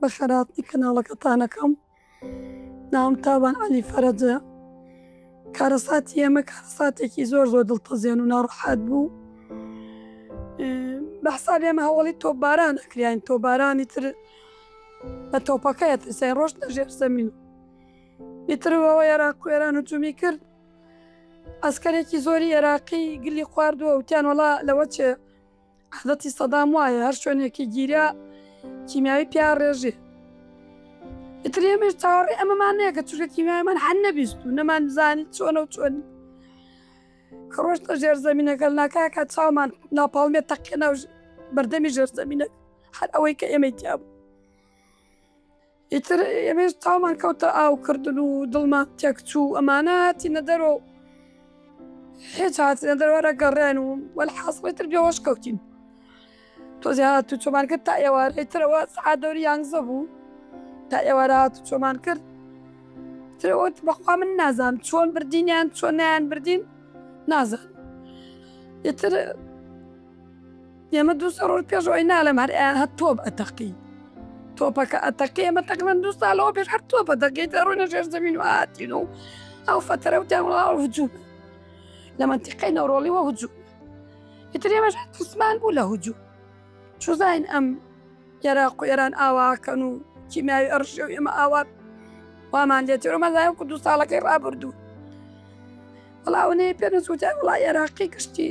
بە خێرهاتنی کەناڵەکەتانەکەم ناوم تابان عەلی فەرەجە کارەساتی ئێمە کارەساتێکی زۆر زۆر دڵتەزێن و ناڕەحەت بوو بە حساب ئێمە هەوڵی تۆپباران ئەکریان تۆبارانی تر بە تۆپەکەی ترسای ڕۆشت لە ژێر زەمین ئیترەوە عێراق و ئێران و جومی کرد ئەسکەرێکی زۆری عێراقی گلی خواردووە وتیان وڵا لەوە چێ عادەتی سەدام وایە هەر شوێنێکی گیرا کیمیاوی پیا ڕێژێ ئیتر ئێمەش چاوەڕێ ئەمەمان نەیە کە چونکە کیمیایمان هەن نەبیست و نەمان زانی چۆنە و چۆن ڕۆشتە ژێر زمینەکە ناکاکە چاومان ناپاڵمێت تەقێ ناو بەردەمی ژێر زمینە هەر ئەوەی کە ئێمەی تیاب ئیتر ئێمەش چاومان کەوتە ئاو کردن و دڵمان تێک چوو ئەمانە هاتینە دەرۆ هێچ هاتنە دەروارە گەڕێن و وەلحاسڵی تر بێوەش کەوتین تۆزی هات و چۆمان کرد تا ئێوارەی ترەوە سعات دەوری یانزە بوو تا ئێوارە هات و چۆمان کرد ترەوەت بەخوا من نازانم چۆن بردینیان چۆن نیان بردین نازان ئیتر ئێمە دوو سێ ڕۆژ پێش ئەوەی نالێم هەر ئەیان هەر تۆپ ئەتەقی تۆپەکە ئەتەقی ئێمە تەقریبەن دوو سالەوە پێش هەر تۆپە دەقی دەڕوینە ژێر زەمین و هاتین و ئەو فەتەرە و تێوڵاوە هجوو لە منتیقەی نەوڕۆڵیوە هجوو ئیتر ئێمەش هەر ترسمان بوو لە هجوو چوزین ئەم عێراق و ئێران ئاواکەن و کیمیاوی ئەڕشێ و ئێمە ئاوات وامان لێ تێرۆمەزای وکو دوو ساڵەکەی ڕابردوو بەڵاونەیە پێ نەسووتای وڵای عێراقی گشتی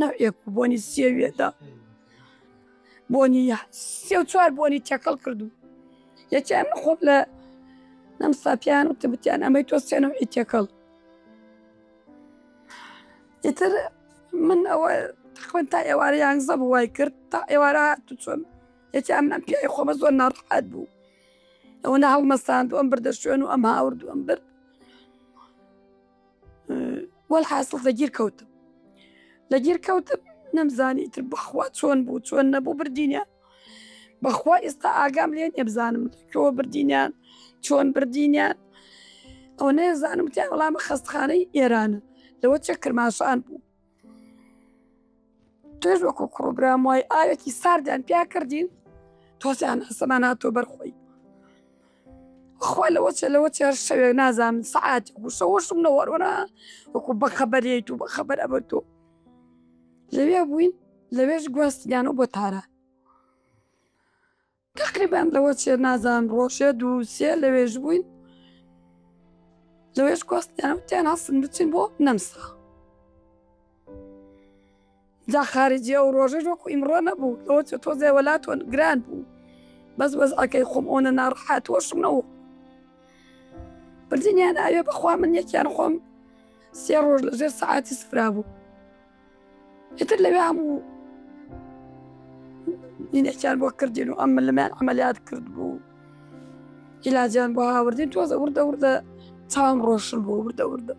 نەوعێک و بۆنی سێوێدا بۆنی سێ و چوار بۆنی تێکەڵ کردو یەکیان خۆم لە نەم ساپیان و تبتیان ئەمەی تۆ سێنەوەی تێکەڵ ئیتر من ئەوە خوێن تا ئێوارە یانزە بوو وای کرد تا ئێوارە هاتو چۆن یەکی ئەم نەم پیاوی خۆمە زۆر ناڕحات بوو ئەوە نە هەڵمەستاند ئەم بردە شوێن و ئەم هاورد ئەم برد وەل حاسڵ لە گیر کەوتم لە گیر کەوتم نەمزانی تر بەخوا چۆن بوو چۆن نەبوو بردینە بەخوا ئێستا ئاگام لێ نێبزانم کۆ بردینیان چۆن بردینیان ئەو نێزانم تیا وەڵام خەستخانەی ئێرانە لەوە چە کرماشان بوو تۆش وەکو کوڕ و برام وای ئاوێکی ساردیان پیا کردین تۆزیان ئەسەمان هاتۆ بەرخۆی خوا لەوە چێ لەوە چێ هەر شەوێک نازانم سەعاتی گوشەوەشم نەوەڕۆنا وەکو بە خەبەرێیت و بە خەبەر ئەبەر تۆ لەوێ بووین لەوێش گواستیانەوە بۆ تاران تەقریبەن لەوە چێ نازان ڕۆژێ دوو سێ لەوێژ بووین لەوێش کۆستیان وتیان هەستن بچین بۆ نەمسا جا خارجی ئەو ڕۆژەش وەکو ئیمڕۆ نەبوو لەوە چێ تۆزێ وەلاتۆن گران بوو بەس وەزعەکەی خۆم ئەوە ناڕحات وەشم نەوە بردنیان ئاوێ بەخوا من یەکیان خۆم سێ ڕۆژ لەژێر سەعاتی سفرا بوو ئیتر لەوێ هەموو دینێکیان بۆ کردین و ئەم لەمیان ئەمەلیات کرد بوو ئیلاجیان بۆ هاوردین تۆزە وردە وردە چاوم ڕۆشن بۆ وردە وردە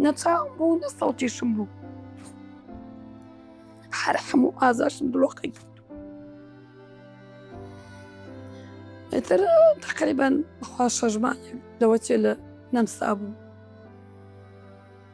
نەچاو بوو نە سەڵتیشم بوو هەر هەموو ئازاشم دڵۆقی کرد ئیتر تقریبان بخوا شەژمان لەوە چێ لە نەمسا بوو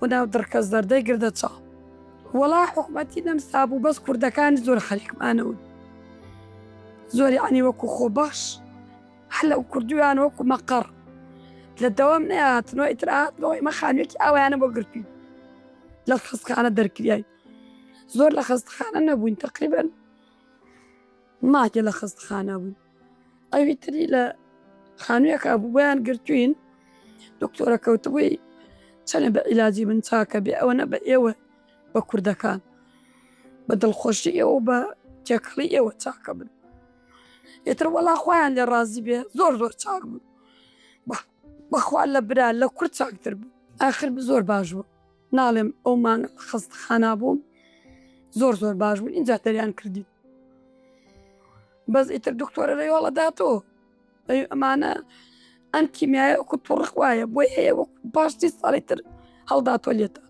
و ناو دڕکە زەردەی گردە چاڵ. وەڵا حوکمەتی نەمسا بوو بەس کوردەکان زۆر خەریکمانەون زۆر یەعنی وەکو خۆبەخش هەر لە کوردویان وەکو مەقەڕ لە دەوام نەیاتنەوە ئیتر هاتنەوە ئیمە خانویەکی ئاوایانە بۆ گرتوین لە خەستخانە دەرکریاین زۆر لە خەستخانە نەبووین تەقریبەن ماکێ لە خەستخانە بووین. ئەوی تری لە خانوویەکە بوو بۆیان گرتوین دکتۆرە کەوتبووی چەنێ بە ئیلاجی من چاکە بێ ئەوە نە بە ئێوە بە کوردەکان بە دڵخۆشی ئێوە بە تێکەڵی ئێوە چاکە بن ئێتر وەڵا خۆیان لێ ڕازی بێ زۆر زۆر چاک بوو بەخوا لە برا لە کورد چاکتر بوو ئاخر زۆر باش بوو ناڵێم ئەو مانگ لە خەستەخانا بووم زۆر زۆر باش بوو ئینجا دەریان کردی بەس ئیتر دکتۆرە لە یۆڵە داتەوە ئەمانە ئەم کیمیایە وەکو توڕق وایە بۆی هەیە وەکو پاشتی ساڵی تر هەڵداتۆ لێتە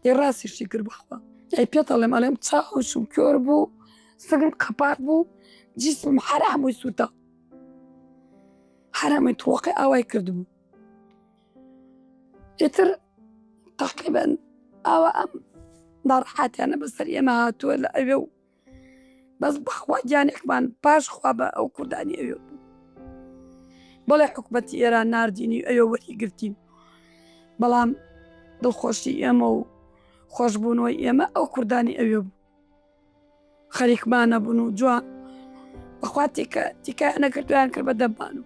ی ڕاستیشی کرد بخوا ئەی پێتەڵێم ئەڵێم چاوشم کۆر بوو سگم قەپات بوو جیسم حرامووی سووتا حرامی تڕۆقی ئاوای کردبوو ئیتر تەقیبەن ئاوا ئەم ناڕحاتیانە بەسەر ئێمە هاتووە لە ئەوێ و بەس بەخوا گیانێکمان پاش خوا بە ئەو کوردانی ئەوێ بوو بەڵێ حکوومەتی ئێران نردینی ئەوێ وەری گرتین بەڵام دڵخۆشی ئێمە و خۆشببوونەوەی ئێمە ئەو کوردانی ئەوێ بوو خەریکمان نەبوون و جوان بەخوا تیکە تیکایان نەکرد تویان کرد بە دەبان و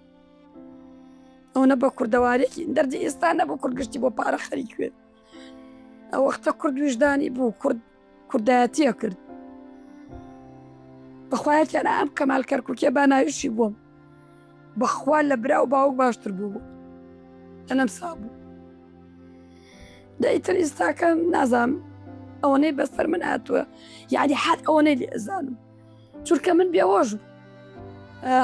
ئەوەنە بە کوردەوارێکی دەردی ئێستا نەبوو کورد گشتی بۆ پارە خەریک کرد ئەو وەختە کورد وژدانی بوو کورد کوردایەتیە کرد بەخوایەتیان ئەم کەمال کەرککێ با ناویشی بووم بەخوا لە برا و باوک باشتر بوو بوو لەنەم سا بوو دەیتر ئیستاکە نازام ئەوەنەی بەسەر من هاتووە یادی حات ئەوەنەی لێ ئەزانم چورکە من بێوەژ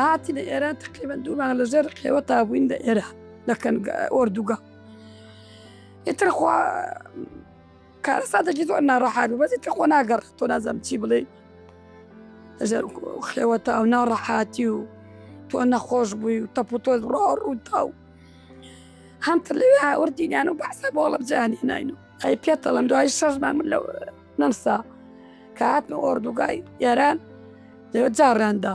هاتی لە ئێرە تقریبا دوومان لەژێر قێوە تابووین لە ئێرە دەکەن ئۆردوگا ئیتر خوا کارەساتێکی زۆر ناڕەحات بوو بەس ئیتر خۆ ناگەڕێ تۆ نازانم چی بڵێ هەژار و خێوەتە و ناڕەحاتی و تۆ نەخۆش بووی و تەپ و تۆز ڕۆ ڕووتا و هەمتر لەوێ هاوردینیان و بەسە بۆ ئەڵم جیانی ناین و ئەی پێتەڵم دوای شەشمان من لەو نەمسا کە هاتمە ئۆردوگای ئێران لەوێ جاڕیاندا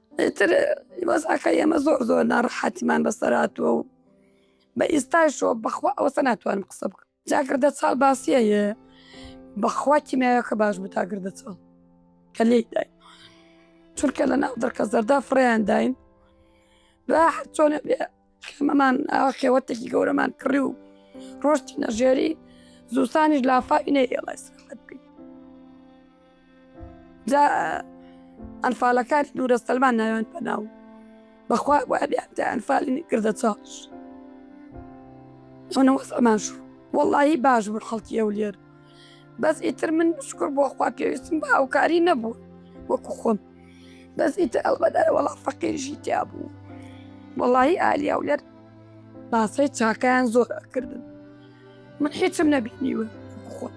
ئیتر وەزعەکە ئێمە زۆر زۆر ناڕەحەتیمان بەسەراتوە و بە ئیستاشەوە بەخوا ئەوەسە ناتوانم قسە بکە جاگردە چاڵ باسیەیە بەخوا کیمیاەکە باش بوو تاگردە چاڵ کە لێی دای چونکە لە ناو دڕکە زەردا فڕیانداین بە هەر چۆنە بێ خێمەمان ئاوا خێوەتێکی گەورەمان کڕی و ڕۆشتی نەژێری زوستانیش لافاوی نەیێڵای سەخت بی جا ئەنفالەکانی دوورە سەلمان ناوێن پەناو بەخوا وابیان تا ئەنفالین کردە چاش ئەوە نەوەسەمان شو وەڵی باش بوو خەڵکی ئەو لێر بەس ئیتر من شکر بۆ خوا پێویستم بە هاوکاری نەبوو وەکو خۆم بەس ئیتر ئەڵبەدەر وەڵا فەقیرژی تیا بوو وەڵی ئالیا و لەر باسەی چاکیان زۆر ئەکردن من هیچم نەبینیوە خۆ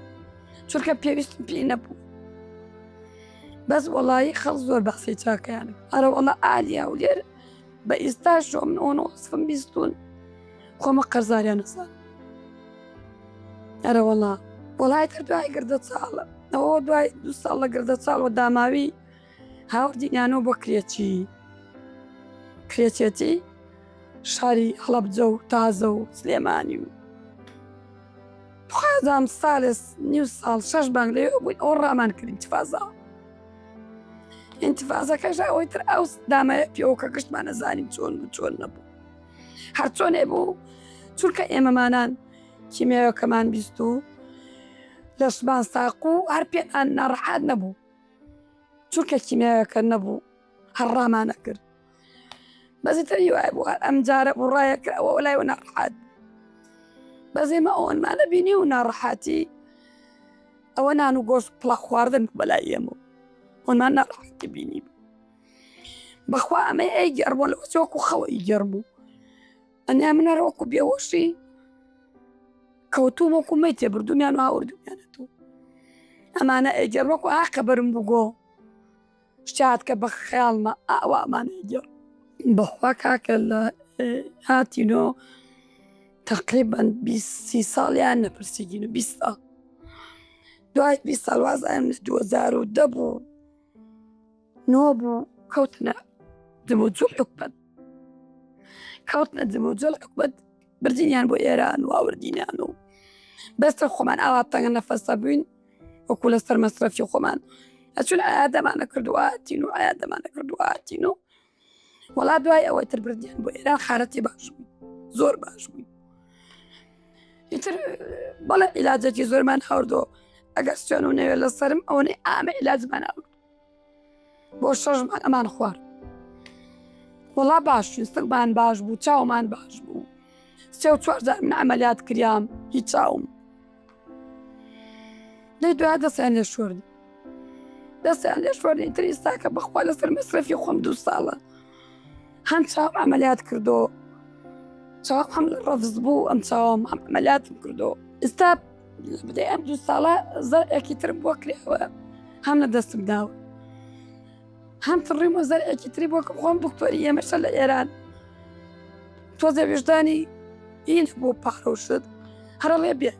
چونکە پێویستم پێ نەبوو بەس وەڵی خەڵ زۆر باسی چاکەیان ئەرە وەڵە ئالیا و لێر بە ئیستاش جۆم نۆن وەسفم بیستون خۆمە قەرزاریان نەزان ئەرە وەڵا وڵای تر دوای گردە چاڵە ئەوە دوای دو ساڵ لە گردە چاڵ و داماوی هاوردینیانەوە بۆ کرێچی کرێچێتی شاری هەڵەبجە و تازە و سلێمانی و خوازام سالس نیو ساڵ شەش بانگ لێ بووین ئەو ڕامان کردین چفازاوە ئینتفازەکەش ئەوەی تر ئەو دامایە پێوەکە گشتمانە زانیم چۆن و چۆن نەبوو هەرچۆنێ بوو چونکە ئێمەمانان کیمێەکەمان بیست و لەشمان ساق و هەر پێ ئەن ناڕحات نەبوو چونکە کیمێەکە نەبوو هەر ڕامانە کرد بەزی تری وای بوار ئەم جارە بوو ڕایە کراوە لای و ناڕحات بەزێمە ئەوەنمانە بینی و ناڕحاتی ئەوە نان و گۆشت پڵە خواردن بەلای ئێمە ئەومان ناڕحاتی بینی بوو بەخوا ئەمە ئەی گەڕبوون لە چۆک و خەوەی گەڕ بوو ئەنیا منەرۆکو بێوەشی کەوتو وەکو مەی تێبردومیان و هاوردومیانەوە ئەمانە ئەگەر وەکو ئاقە بەرم بگۆ شاد کە بە خەیاڵمە ئاوامان ئەیگێڕ. بەخوا کاکە لە هاتینۆ تەقریبەن بیست سی ساڵیان نەپرسیدین و بیست ساڵ دوای بیست ساڵ وازایم لە دوو هەزار و دە بوو نۆ بوو کەوتنە جموجووڵ حکومەت کەوتنە جموجووڵ حکومەت بردینیان بۆ ئێران و ئاوردینیان و بەستە خۆمان ئاوا تەنگە نەفەسە بووین وەکو لەسەر مەسرەفی خۆمان ئەچون ئایا دەمانە کردواتین و ئایا دەمانە کردواتین و وڵات دوای ئەوەی تر بردیان بۆ ئێران خارەتی باش بووین زۆر باش بووین ئیتر بەڵێ عیلاجێکی زۆرمان هەوردۆ ئەگەر سوێن و نەوێت لەسرم ئەوەی ئامە عیلاجمان ئەو بۆ شەش مانگ ئەمان خوارد وەڵا باش بوو سەگمان باش بوو چاومان باش بوو سێ و چوار جار من عملیات کریام هی چاوم لەی دو دەستیان لێ شوردی دەستیان لێ شوردی تری ساکە بەخوا لەسەر مەسرەفی خۆم دوو ساڵە هەم چاو عملیات کردو چاوم هەم ڕەفز بوو ئەم چاوم ئەم عملیاتم کردو ئستا بدەی ئەم دوو ساڵە زەرێکی ترم بۆ کرێوە هەم لە دەستم داوە هەم تڕیم و زەرێکی تری بۆ خۆم بکتۆری ئێمەشە لە ئێران تۆزە وێژدانی ئین بۆ پارۆشت هەرڵێ بێ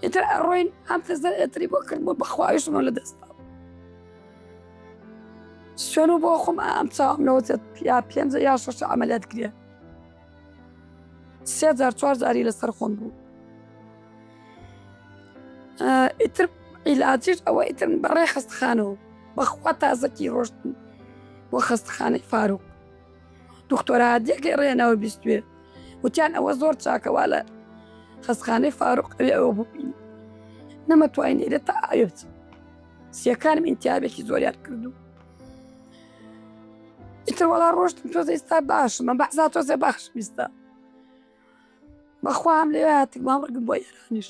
ئیتر ئەڕۆین ئەم تەزە ئەتری بۆ کرد بۆ بەخواویشمە لە دەستا سوێن و بۆ خۆم ئەم چاوم لەوەێت یا پێنج یا شش ئەعملات کرێ سێ جار چوار جاری لەسەر خۆم بوو ئیتر عیلاجیش ئەوە ئیتر بەڕێ خستخانەوە بەخوا تازەکی ڕۆشتن بۆ خستخانەی فاروق دختۆرادیەکەی ڕێنەوە بیستێ وتیان ئەوە زۆر چاکەوا لە خستخانەی فاروق ئەوێ ئەوە بووین نەمەتوانین ئێرە تا ئاوێ بچم سیەکانم ئینتیابێکی زۆریان کردو ئیتر وەڵا ڕۆشتم تۆزە ئستا باشم بە بەحسا تۆزێ بەخش بیستە بەخوام لێ هاتم ماڕگم بۆ ئێرانیش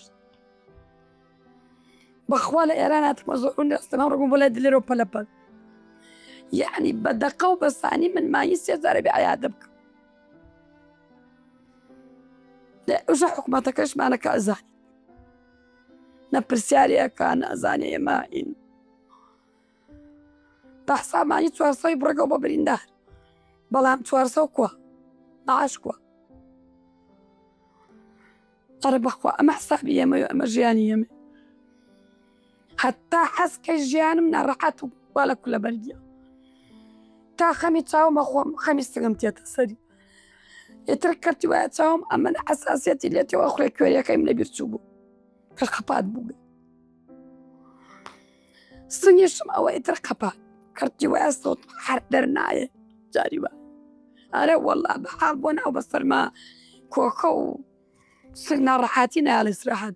بەخوا لە ئێران هاتمە زۆر دەستەما ڕگم بۆ لای دلێرەوە پەلەپەل یعنی بە دەقە و بەسانی من ماهی سێزارە بێ عیادە بکەم لە ئەوژە حکوومەتەکەشمانەکە ئەزانی نە پرسیارەکان ئەزانێ ئێمە ئین بەحسابانی چوارسەی بڕگەو بە بریندار بەڵام چوارسە کووە بەعاش کووە ئەرە بەخوا ئەمە حسابی ئەمە ئەمە ژیانی ئەمە حتا حەزکە ژیانم ناڕەحەت و با لە کولە بەرگە تا خەمی چاومە خۆم خەمی سگم تێتە سەری ئیتر کەتی وایە چاوم ئەمە حساسەتی لێتەوە خوێ کوێریەکەیم لە بیرچوو بوو کە خەپات بوو سنگیشم ئەوە ئیتر قەپات کەرتی وایە سەوت هەر دەرنایە جاری وە ئەرە وەڵا بە حاڵ بۆ ناو بە سەرما کۆکە و سنگ ناڕەحاتی ناڵێ سراحەت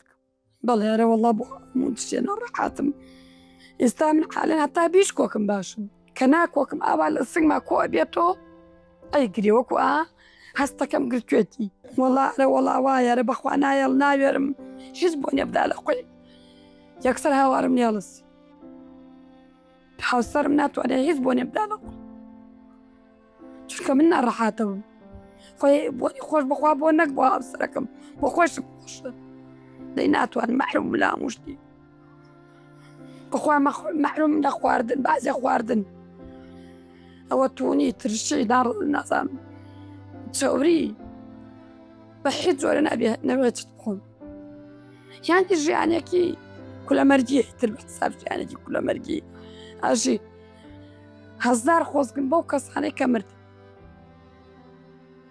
بەڵێ ئەرە وەڵا بۆ موچێ ناڕەحاتم ئێستا من حالە هەتا بیش کۆکم باشم کە ناکۆکم ئاوا لە سنگما کۆ بێتۆ ئەی گرێ وەکو ئا هەستەکەم گرتوێتی وەڵا ئەرە وەڵا وایەرە بەخوا نایەڵ ناوێرم هیچ بۆ نێبدا لە خۆی یەکسەر هاوارم نێڵس هاوسەرم ناتوانێت هیچ بۆ نێبدا لە خۆی چونکە من ناڕەحاتە بووم خۆی بۆنی خۆش بخوا بۆ نەک بۆ هاوسەرەکەم بۆ خۆشم خۆشە دەی ناتوان مەحروم لام شتی بخوا مەحروم لە خواردن بازێ خواردن ئەوە تونی ترشی داڕ نازان چوری بە حیت جۆرە نابێ نەوێت بخۆم یانتی ژیانێکی کولەمەرگی تر بەساب ژیانێکی کولەمەرگی ئاژی هەزار خۆزگم بەو کەسانەی کە مرد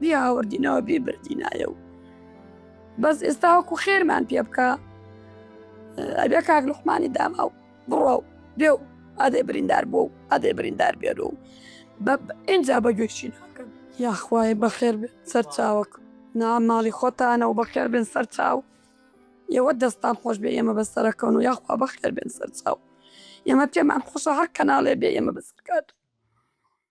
بیاوەردینەوە بیبردینایە و بەس ئێستاوەکو خێرمان پێ بکە ئەبێ کاک لوحمانی داما و بڕە و بێ و ئادەی بریندار بۆ و ئادەی بریندار بێر و بە ئینجا بە گوێچی ناکەن یاخوای بەخێر سەرچاوک نا ماڵی خۆتانە و بەخێر بن سەرچاو ئێوە دەستان خۆش بێ ئێمە بەسەرەکەون و یاخوا بەخێر بن سەرچاو ئێمە پێمان خۆشە هەر کەناڵێ بێ ئێمە بەسەرکات